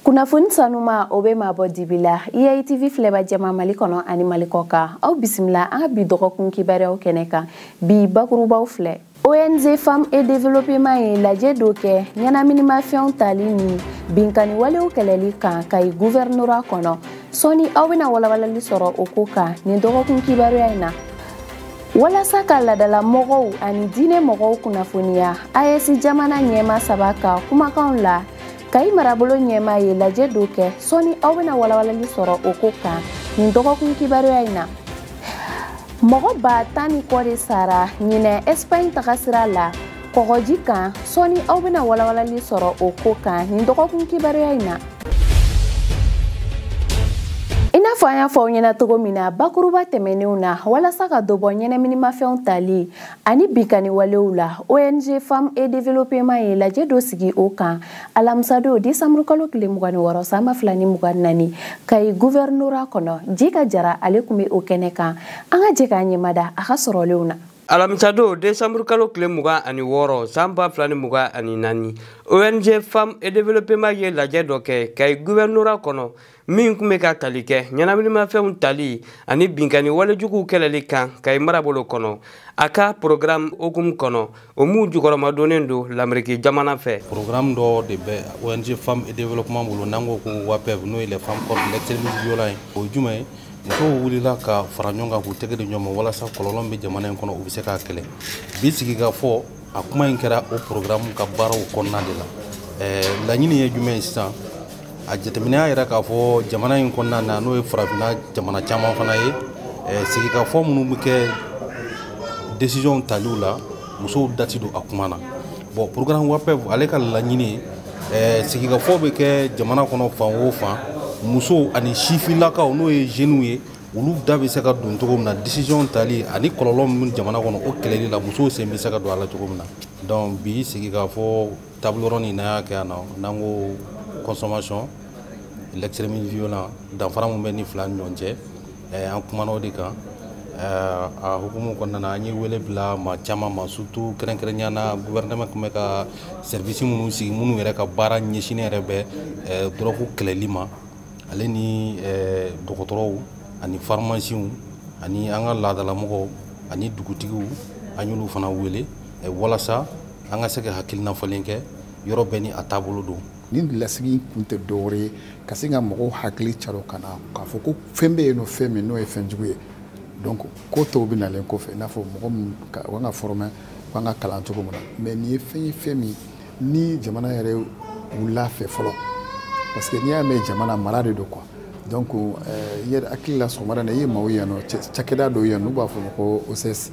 kunnafoni sanuma o bɛ maa bɔ dibi la eitv e filɛbaa jama mali kɔnɔ ani mali kɔ kan aw bisimila an ka bi dɔgɔkun kibaruyaw kɛnɛ kan bi bakurubaw filɛ ong femme et développement ye lajɛ dɔ kɛ ɲɛnaminimafɛnw tali ni binkaniwalew kɛlɛli kan kayi guvɛrinora kɔnɔ sɔni aw bɛna walawalali sɔrɔ o ko kan nin dɔgɔkun kibaruya in na walasa ka laadala mɔgɔw ani diinɛ mɔgɔw kunnafoniya aes jamana ɲɛmaa saba ka kumakanw la kayi marabolo ɲɛmaa ye lajɛ dɔ kɛ sɔni aw bɛna walawalali sɔrɔ o ko kan nin dɔgɔkun kibaruya in na mɔgɔ ba tan ni kɔ de sara ɲinan ɛsipaɲi tagasira la kɔgɔji kan sɔni aw bɛna walawalali sɔrɔ o ko kan nin dɔgɔkun kibaruya in na i n'a fɔ an y'a fɔ aw ɲɛ na cogo min na bakuruba tɛmɛnenw na walasa ka dɔ bɔ ɲɛnaminimafɛnw tali ani binkani walew la ong femme et développement ye lajɛ dɔ sigi o kan alamisadon desanburu kalo tile mugan ni wɔɔrɔ san ba fila ni mugan ni naani kayi guvɛrinora kɔnɔ jika jara ale tun bɛ o kɛnɛ kan an ka jɛ ka ɲɛmada a ka sɔrɔlenw na alamisadon desanburu kalo tile mugan ani wɔɔrɔ san ba fila ni mugan ani naani ong femme et développement ye lajɛ dɔ kɛ kayi guvɛrinora kɔnɔ min tun bɛ ka tali kɛ ɲɛnaminimafɛnw tali ani binkanni walejuguw kɛlɛli kan kayi marabolo kɔnɔ a ka porogaramu hukumu kɔnɔ o min jukɔrɔmadonnen don lameriki jamana fɛ porogaramu dɔ de bɛ ong femme et développement bolo n'an ko ko wapɛv n'o ye les femmes contre l'extrémisme violent ye o ye jumɛn ye musow wulila ka fara ɲɔgɔn kan k'u tɛgɛ di ɲɔgɔn ma walasa kɔlɔlɔ min bɛ jamana in kɔnɔ o bɛ se ka kɛlɛ bi sigikafɔ a kuma in kɛra o porogaramu ka baaraw kɔnɔna de la laɲini ye jumɛn ye sisan a jateminɛ y'a yira k'a fɔ jamana in kɔnɔna na n'o ye farafinna jamana caman fana ye sigikafɔ minnu bɛ kɛ desizɔnw taliw la musow da tɛ don a kuma na bon porogaramu wapɛv ale ka laɲini ye sigikafɔ bɛ kɛ jamana kɔnɔ fan o fan musow ani sifinlakaw n'o ye zeniw ye olu da bɛ se ka don cogo min na décision tali ani kɔlɔlɔ min jamana kɔnɔ o kɛlɛli la musow sen bɛ se ka don a la cogo min na donc bi sigikafɔ table ronde in n'an y'a kɛ yan nɔ n'an ko consommation l'extrémisme violent danfara min bɛ nin fila ni ɲɔgɔn cɛ eh, an kumana o de kan eh, a hukumu kɔnɔna na an ye wele bila maa caman ma surtout kɛrɛnkɛrɛnya na gouvernement tun bɛ ka service minnu sigi minnu yɛrɛ ka baara ɲɛsinnen yɛrɛ bɛ eh, dɔrɔgu kɛlɛli ma ale ni eh, dɔgɔtɔrɔw ani farimasiw ani an ka laadalamɔgɔw ani dugutigiw an y'olu fana wele eh, walasa an ka se ka hakilinafalen kɛ yɔrɔ bɛɛ ni a taabolo don nin lasigi kun tɛ dɔwɛrɛ ye ka se ka mɔgɔw hakili caro ka na k'a fɔ ko fɛn bɛ yen nɔ fɛn min n'o ye fɛn jugu ye donc ko tɔw bɛ nalen kɔfɛ i n'a fɔ mɔgɔ min ka kan ka fɔrɔmɛ u kan ka kalan cogo min na mais nin ye fɛn ye fɛn min ni jamana yɛrɛ wulil'a fɛ fɔlɔ parce que n'i y'a mɛn jamana mara de don quoi donc eh, yɛrɛ hakili la sɔgɔmada na i ye maaw yan nɔ cakɛda dɔw yan n'u b'a fɔ a ma ko ocs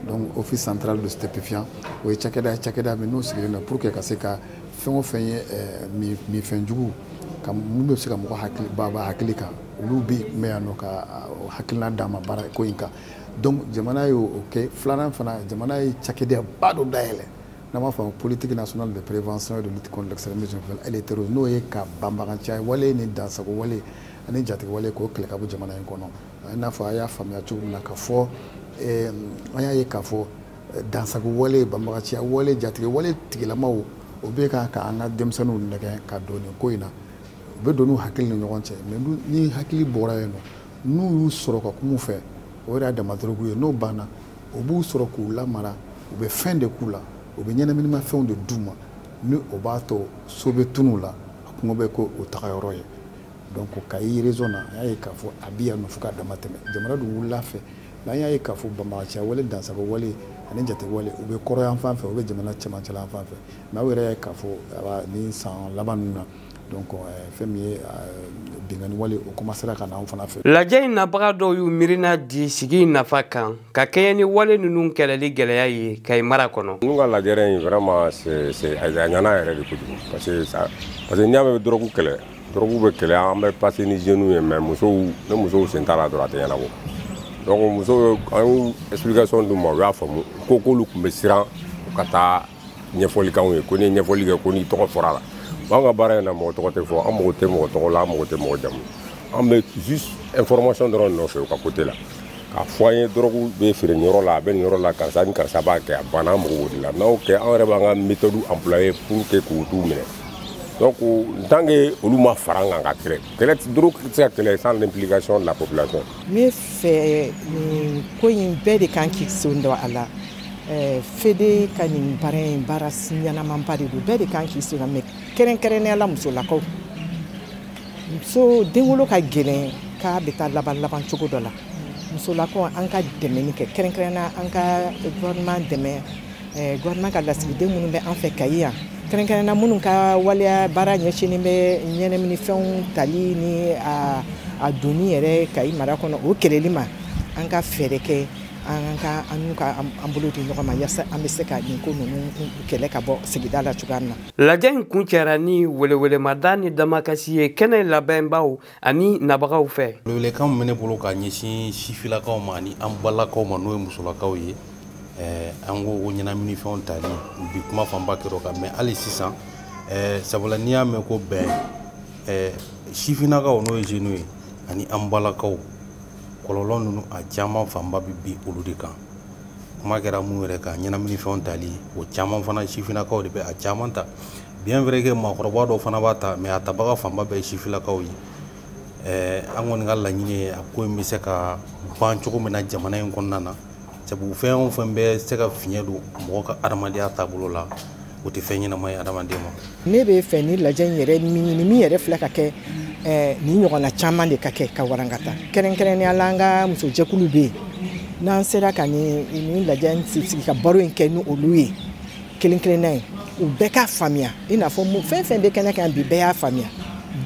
donc office central des stupéfiants o ye cakɛda ye cakɛda min n'u sigilen don pour que ka se ka fɛn o fɛn ye eh, minfɛn juguman minnu bɛ se ka mɔgɔ hakili bɔ a hakili kan olu bɛ yen mɛ yan nɔ ka hakilina d'a ma baara ko in kan donc jamana y'o kɛ filanan fana jamana ye cakɛdaba dɔ dayɛlɛ n'u b'a fɔ politique nationale de prévention et de lutte contre l'extrémisme violent et le terrorisme n'o ye ka banbaganciya wale ni dansago wale ani jatigi wale k'o kɛlɛ ka bɔ jamana in kɔnɔ i n'a fɔ a y'a faamuya cogo min na ka fɔ an y'a ye k'a fɔ dansago wale banbaganciya wale jatigɛ wale tigilamaw o bɛ ka ka an ka denmisɛnninw nɛgɛn ka don nin ko in na u bɛ don n'u hakili ni ɲɔgɔn cɛ mais ni hakili bɔra yen nɔ n'u y'u sɔrɔ ka kum'u fɛ o yɛrɛ y'a dama dɔrɔgu ye n'o banna o b'u sɔrɔ k'u lamara u bɛ fɛn de k'u la u bɛ ɲɛnaminimafɛnw de d'u ma ni o b'a to so bɛ tunun u la kungo bɛ k'u taga yɔrɔ ye donc kayi région na an y'a ye k'a fɔ a bɛ yan nɔ fo ka dama tɛmɛ jamana dun wulil'a fɛ mɛ an y'a ye k'a fɔ banbagaciya wale dansago wale ani jatigɛ wale u bɛ kɔrɔnyan fan fɛ u bɛ jamana cɛmancɛla fan fɛ mɛ aw yɛrɛ y'a ye k'a fɔ ni san laban ninnu na donc euh, fɛn min ye euh, binkanni wale o komansera ka na anw fana fɛ lajɛ in nabaga dɔw y'u miirina di sigi in nafa kan ka kɛɲɛ ni wale ninnu kɛlɛli gɛlɛya ye kayi mara kɔnɔ n'u ka lajɛrɛ in vraiment a ɲana yɛrɛ de kojugu parce que n'i y'a mɛn dɔrɔgu kɛlɛ dɔrɔgu bɛ kɛlɛ an bɛ passer ni jeunes ye mais musow ni musow sen t'a la dɔrɔn a tɛ ɲɛnabɔ donc musow an ye explication d'u ma u y'a faamu ko k'olu tun bɛ siran u ka taa ɲɛfɔli k'anw ye ko n'i ye ɲɛfɔli kɛ ko n'i tɔgɔ fɔra la anw ka baara in na mɔgɔ tɔgɔ tɛ fɔ an mago tɛ mɔgɔ tɔgɔ la an mago tɛ mɔgɔ jamu an bɛ juste information dɔrɔn nɔfɛ u ka kote la k'a fɔ an ye dɔrɔgu bɛ feere nin yɔrɔ la a bɛ nin yɔrɔ la karisa ni karisa b'a kɛ a banna an mago b'o de la n'aw kɛ an yɛrɛ b'an ka méthode employer pour que ka t'u minɛ donc tant que olu ma fara an kan ka kɛlɛ kɛlɛ dɔrɔgu tɛ se ka kɛlɛ sans l'implication de la population ne fɛ nin ko in bɛɛ de kan k'i sen don a la Eh, fede ka nin baara in baara ɲɛnamaba de don bɛɛ de kan k'i senna mɛ kɛrɛnkɛrɛnnenya la musolakaw muso denwolo ka gɛlɛn k'a bɛ taa laban laban cogo dɔ la musolakaw an ka dɛmɛni kɛ kɛrɛnkɛrɛnnenya an ka gouvernement dɛmɛ eh, gouvernement ka lasigiden minnu bɛ an fɛ kayi yan kɛrɛnkɛrɛnnenya minnu ka waleya baara ɲɛsinnen bɛ ɲɛnaminifɛnw tali ni a donni yɛrɛ kayi mara kɔnɔ o kɛlɛli ma an ka fɛɛrɛ kɛ an ka an n'u ka an bolo di ɲɔgɔn ma yasa an bɛ se ka nin ko ninnu kɛlɛ ka bɔ sigida la cogoya min na. lajɛ in kuncɛra ni welewelemada ni damakasi ye kɛnɛ labɛnbaaw ani nabagaw fɛ. welewelekan min bɛ ne bolo ka ɲɛsin sifinnakaw ma ani an balakaw ma n'o ye musolakaw ye eh, an ko o ɲɛnaminifɛnw tali bi kuma fanba kɛra o kan mais hali sisan eh, sabula n'i y'a mɛn ko bɛn eh, sifinnakaw n'o ye zenu ye ani an balakaw kɔlɔlɔ ninnu a caman fanba bɛ bin olu de kan kuma kɛra mun yɛrɛ kan ɲɛnaminifɛnw tali o caman fana sifinnakaw de bɛ a caman ta bien vrai que maakɔrɔba dɔw fana b'a ta mais a tabaga fanba bɛɛ ye sifinnakaw ye an kɔni ka laɲini ye a ko in bɛ se ka ban cogo min na jamana in kɔnɔna na sabu fɛn o fɛn bɛ se ka fiɲɛ don mɔgɔ ka adamadenya taabolo la o tɛ fɛn ɲɛnama ye adamaden ma ne b'a fɛ nin lajɛ in yɛrɛ min nin min yɛrɛ filɛ ka kɛ eh, nin ɲɔgɔnna caman de ka kɛ ka warankata kɛrɛnkɛrɛnnenya la an ka musojɛkulu bɛ yen n'an sera ka nin nin lajɛ in sigi ka baro in kɛ ni olu ye kelen kelenna ye u bɛɛ k'a faamuya i n'a fɔ fɛn o fɛn bɛ kɛnɛ kan bi bɛɛ y'a faamuya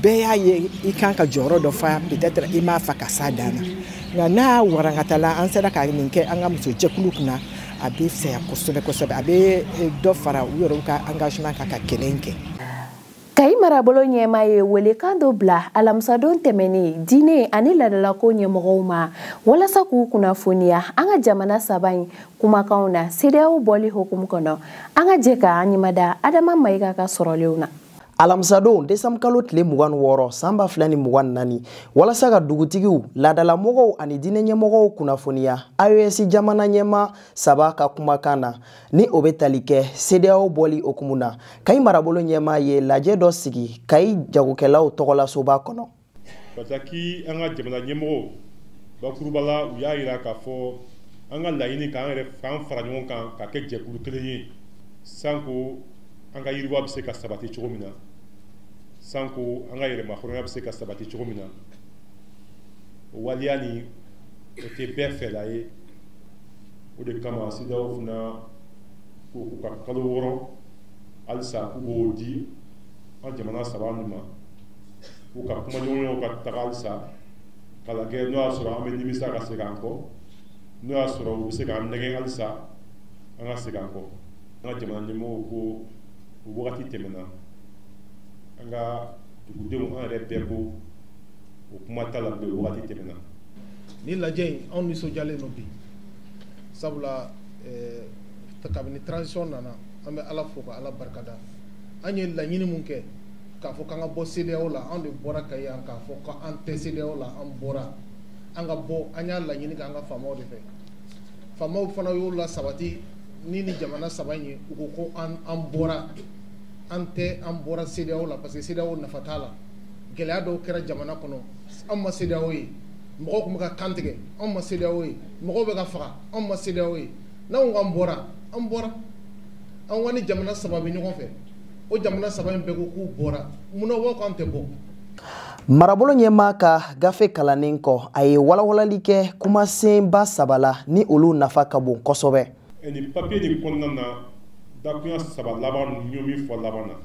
bɛɛ y'a ye i kan ka jɔyɔrɔ dɔ fa peut-être i m'a fa ka s'a dan na nka n'a warankatala an sera ka nin kɛ an ka muso jɛkulu kunna a bɛ fisaya kosɛbɛ kosɛbɛ a bɛ eh, dɔ fara u yɛrɛw ka engagement kan ka kɛlɛ in kɛ kayi marabolo ɲɛmaa ye welekan dɔ bila alamisadon tɛmɛnen diinɛ ani laadalako ɲɛmɔgɔw ma walasa k'u kunnafoniya an ka jamana saba in kumakanw na CEDEAO bɔli hukumu kɔnɔ an ka jɛ ka an ɲɛmada adama mayiga ka sɔrɔlenw na alamisadon desanbu kalo tile mugan ni wɔɔrɔ san ba fila ni mugan ni naani walasa ka dugutigiw laadalamɔgɔw ani diinɛɲɛmɔgɔw kunnafoniya AES jamana ɲɛmaa saba ka kumakan na ni o bɛ tali kɛ CEDEAO bɔli hukumu na kayi marabolo ɲɛmaa ye lajɛ dɔ sigi kayi jagokɛlaw tɔgɔlasoba kɔnɔ parce que an ka jamana ɲɛmɔgɔw bakuruba la u y'a jira k'a fɔ an ka laɲini k'an yɛrɛ k'an fara ɲɔgɔn kan ka kɛ jɛkulu kelen ye sanko an ka yiriwa bɛ se ka sabati cogo min na sanko an ka yɛrɛmahɔrɔnya bɛ se ka sabati cogo min na o waleya nin o tɛ bɛɛ fɛla ye o de kama CEDEAO fana ko k'u ka kalo wɔɔrɔ halisa k'u b'o di an jamana saba ninnu ma k'u ka kumaɲɔgɔnyaw ka taga halisa k'a lajɛ n'o y'a sɔrɔ an bɛ nimisa ka segin an kɔ n'o y'a sɔrɔ u bɛ se k'an nɛgɛn halisa an ka segin an kɔ an ka jamana ɲɛmɔgɔw ko o wagati tɛmɛna an ka dugudenw an yɛrɛ bɛɛ ko o kuma t'a la bilen o wagati tɛmɛna ni lajɛ in anw nisɔndiyalen don bi sabula eh, kabini transition nana an bɛ ala fo ka ala barikada an ye laɲini min kɛ k'a fɔ k'an ka bɔ CEDEAO la anw de bɔra ka yan k'a fɔ k'an tɛ CEDEAO la an bɔra an ka bɔ an y'a laɲini k'an ka faamaw de fɛ faamaw fana y'o lasabati ni ni jamana saba in ye u ko ko an an bɔra an tɛ an bɔra CEDEAO la parce que CEDEAO nafa t'a la gɛlɛya dɔw kɛra jamana kɔnɔ an ma CEDEAO ye mɔgɔ tun bɛ ka kantigɛ anw ma CEDEAO ye mɔgɔ bɛ ka faga anw ma CEDEAO ye n'anw k'an bɔra an bɔra anw ani jamana saba bɛ ɲɔgɔn fɛ o jamana saba in bɛɛ ko k'u bɔra munna u b'a fɔ k'an tɛ bɔ marabolo ɲɛmaa ka gafe kalannen kɔ a ye walawalali kɛ kumasenba saba la ni olu nafa ka bon kosɛbɛ nin papiye de kɔnɔna na dakunya saba laban ninnu min fɔ laban na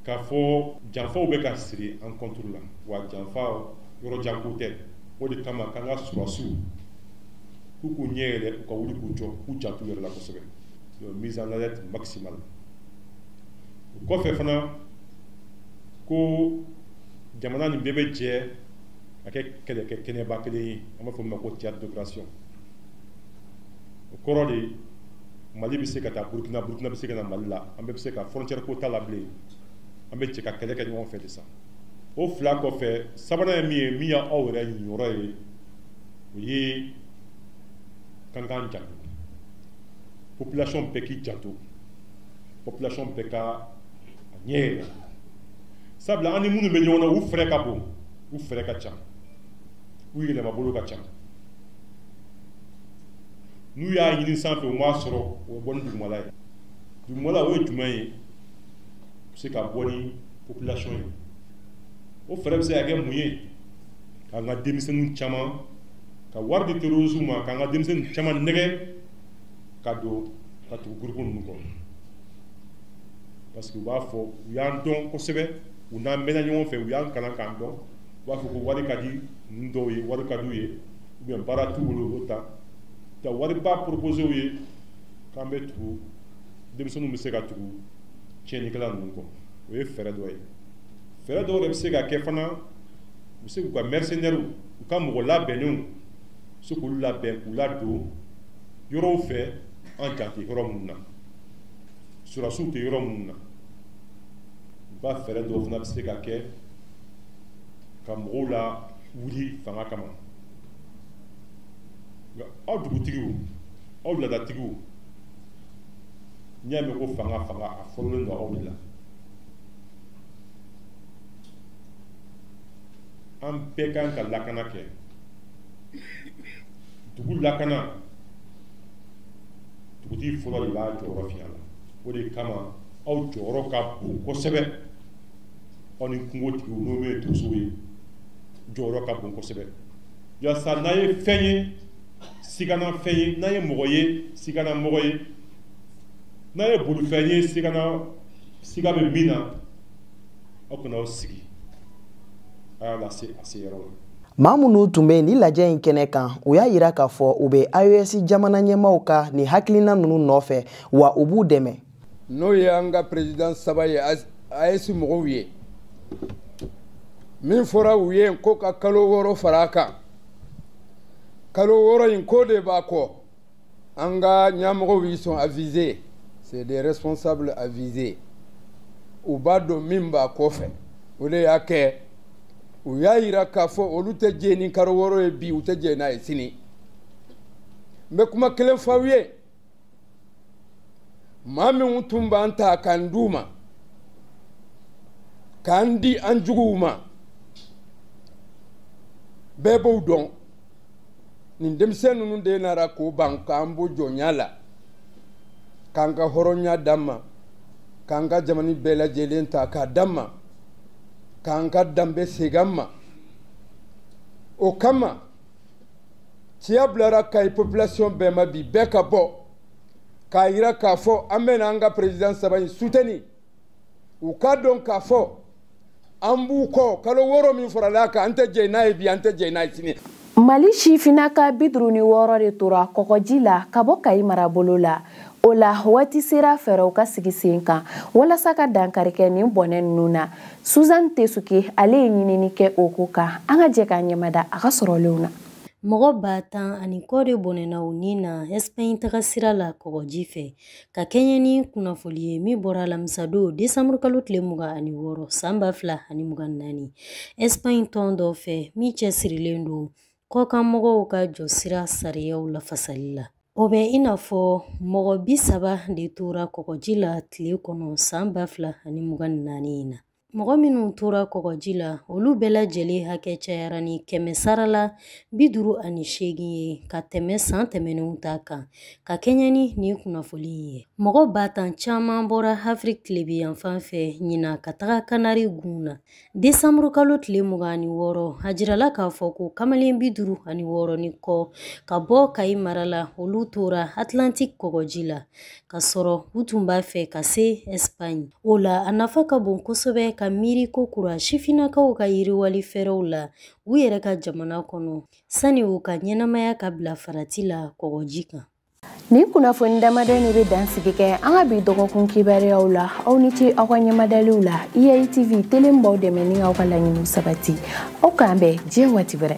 k'a fɔ janfaw bɛ ka siri an kɔnturu la wa janfa yɔrɔjanko tɛ o de kama k'an ka sɔrɔdasiw k'u k'u ɲɛ yɛlɛ u ka wuli k'u jɔ k'u janto u yɛrɛ la kosɛbɛ mise en alerte maximale o kɔfɛ fana ko jamana nin bɛɛ bɛ jɛ ka kɛ kɛlɛkɛ kɛnɛba kelen ye an b'a fɔ min ma ko théâtre d'opération o kɔrɔ de ye mali bɛ se ka taa burukina burukina bɛ se ka na mali la an bɛɛ bɛ se ka frontière ko t'a la bilen an bɛ jɛ ka kɛlɛ kɛ ɲɔgɔn fɛ de sa o fila kɔfɛ sabanan ye min ye min y'aw yɛrɛ ɲiyɔrɔ ye o ye k'an k'an janto population bɛɛ k'i janto population bɛɛ ka a ɲɛ yɛlɛ sabula an ni minnu bɛ ɲɔgɔn na u fɛɛrɛ ka bon u fɛɛrɛ ka ca u yɛlɛmabolo ka ca n'u y'a ɲini sanfɛ u m'a sɔrɔ u bɛ bɔ ni dugumala ye dugumala o ye jumɛn ye bɛ se ka bɔ ni population ye o fɛɛrɛ bɛ se ka kɛ mun ye k'an ka denmisɛnninw caman ka wari di terrorisme ma k'an ka denmisɛnninw caman nɛgɛn ka don ka tugu gurupu ninnu kɔ parce que u b'a fɔ u y'an dɔn kosɛbɛ u n'an mɛnna ɲɔgɔn fɛ u y'an kalan k'an dɔn u b'a fɔ ko wari ka di ninnu dɔw ye wari ka d'u ye u baara t'u bolo u taa ka wariba poropose u ye k'an bɛ tugu denmisɛnninw bɛ se ka tugu tiɲɛnikɛla ninnu kɔ o ye fɛɛrɛ dɔ ye fɛɛrɛ dɔ wɛrɛ bɛ se ka kɛ fana u bɛ se k'u ka mɛrisenɛriw u ka mɔgɔ labɛnnenw u se k'olu labɛn k'u ladon yɔrɔw fɛ an jan tɛ yɔrɔ minnu na sɔrɔdasiw tɛ yɔrɔ minnu na u ka fɛɛrɛ dɔw fana bɛ se ka kɛ ka mɔgɔw la wuli fanga kama nka aw dugutigiw aw laadatigiw n'i y'a mɛn ko fanga fanga a fɔlɔlen don aw de la an bɛɛ kan ka lakana kɛ dugu lakana dugutigi fɔlɔ de b'a jɔyɔrɔ fa a la o de kama aw jɔyɔrɔ ka bon kosɛbɛ aw ni kungotigiw n'o bɛ donsow ye jɔyɔrɔ ka bon kosɛbɛ yaasa n'a ye fɛn ye sigana fɛn ye n'a ye mɔgɔ ye sigana mɔgɔ ye n'a ye bolifɛn ye sigana siga bɛ min na aw kana aw sigi a y'a lase a se yɔrɔ la maa minnu tun bɛ nin lajɛ in kɛnɛ kan u y'a jira k'a fɔ u bɛ aes jamana ɲɛmaaw ka nin hakilina ninnu nɔfɛ wa u b'u dɛmɛ n'o ye an ka perezidan saba ye aes mɔgɔw ye min fɔra u ye ko ka kalo wɔɔrɔ fara a kan kalo wɔɔrɔ in ko de b'a kɔ an ka ɲɛmɔgɔw ils sont avisés c'est des responsables avisés u b'a dɔn min b'a kɔfɛ o de y'a kɛ u y'a yira k'a fɔ olu tɛ jɛ ni kalo wɔɔrɔ ye bi u tɛ jɛ n'a ye sini n bɛ kuma kelen f'aw ye maa minnu tun b'an ta k'an d'u ma k'an di an juguw ma bɛɛ b'o dɔn nin denmisɛn ninnu de nara k'o ban k'an bɔ jɔnya la k'an ka hɔrɔnya d'an ma k'an ka jamani bɛɛ lajɛlen ta k'a d'an ma k'an ka danbe segin an ma o kama ci bilara kayi population bɛɛ ma bi bɛɛ ka bɔ k'a jira k'a fɔ an bɛna an ka président saba in soutenir u k'a dɔn k'a fɔ an b'u kɔ kalo wɔɔrɔ min farala a kan an tɛ jɛ n'a ye bi an tɛ jɛ n'a ye sini mali sifinnaka bi duuru ni wɔɔrɔ de tora kɔgɔji la ka bɔ kayi marabolo la o la waati sera fɛɛrɛw ka sigi sen kan walasa ka dankari kɛ nin bɔnɛ ninnu na suzan tesuke ale ye ɲinini kɛ o ko kan an ka jɛ k'a ɲɛmada a ka sɔrɔlenw na mɔgɔ ba tan ani kɔ de bɔnɛna u ni na ɛsipaɲi taga sira la kɔgɔji fɛ ka kɛɲɛ ni kunnafoli ye min bɔra alamisadon desanburu kalo tile mugan ani wɔɔrɔ san ba fila ani mugan ni naani ɛsipaɲi tɔn dɔ fɛ min cɛsirilen don kɔkanmɔgɔw ka jɔsira sariyaw lafasali la O bɛ i n'a fɔ mɔgɔ bi saba de tora kɔgɔji la tile kɔnɔ san ba fila ani mugan ni naani in na mɔgɔ minnu tora kɔgɔji la olu bɛɛ lajɛlen hakɛ cayara ni kɛmɛ sara la bi duuru ani seegin ye ka tɛmɛ san tɛmɛnenw ta kan ka kɛɲɛ ni nin kunnafoli in ye mɔgɔ ba tan caman bɔra afiriki tilebinyanfan fɛ ɲina ka taga kanari gun na desanburu kalo tile mugan ani wɔɔrɔ a jirala k'a fɔ ko kamalen bi duuru ani wɔɔrɔ ni kɔ ka bɔ kayi mara la olu tora atlantik kɔgɔji la ka sɔrɔ u tun b'a fɛ ka se ɛsipaɲi o la a nafa ka bon kosɛbɛ ka miiri kokura sifinnakaw ka yiriwali fɛɛrɛw la u yɛrɛ ka jamana kɔnɔ sani u ka ɲɛnamaya ka bila farati la kɔgɔji kan Nin kunnafoni damadɔ de bɛ dansigi kɛ an ka bi dɔgɔkun kibaruyaw la aw ni ce aw ka ɲɛmadaliw la IAI TV tele min b'aw dɛmɛ ni aw ka laɲiniw sabati aw k'an bɛn diɲɛ waati wɛrɛ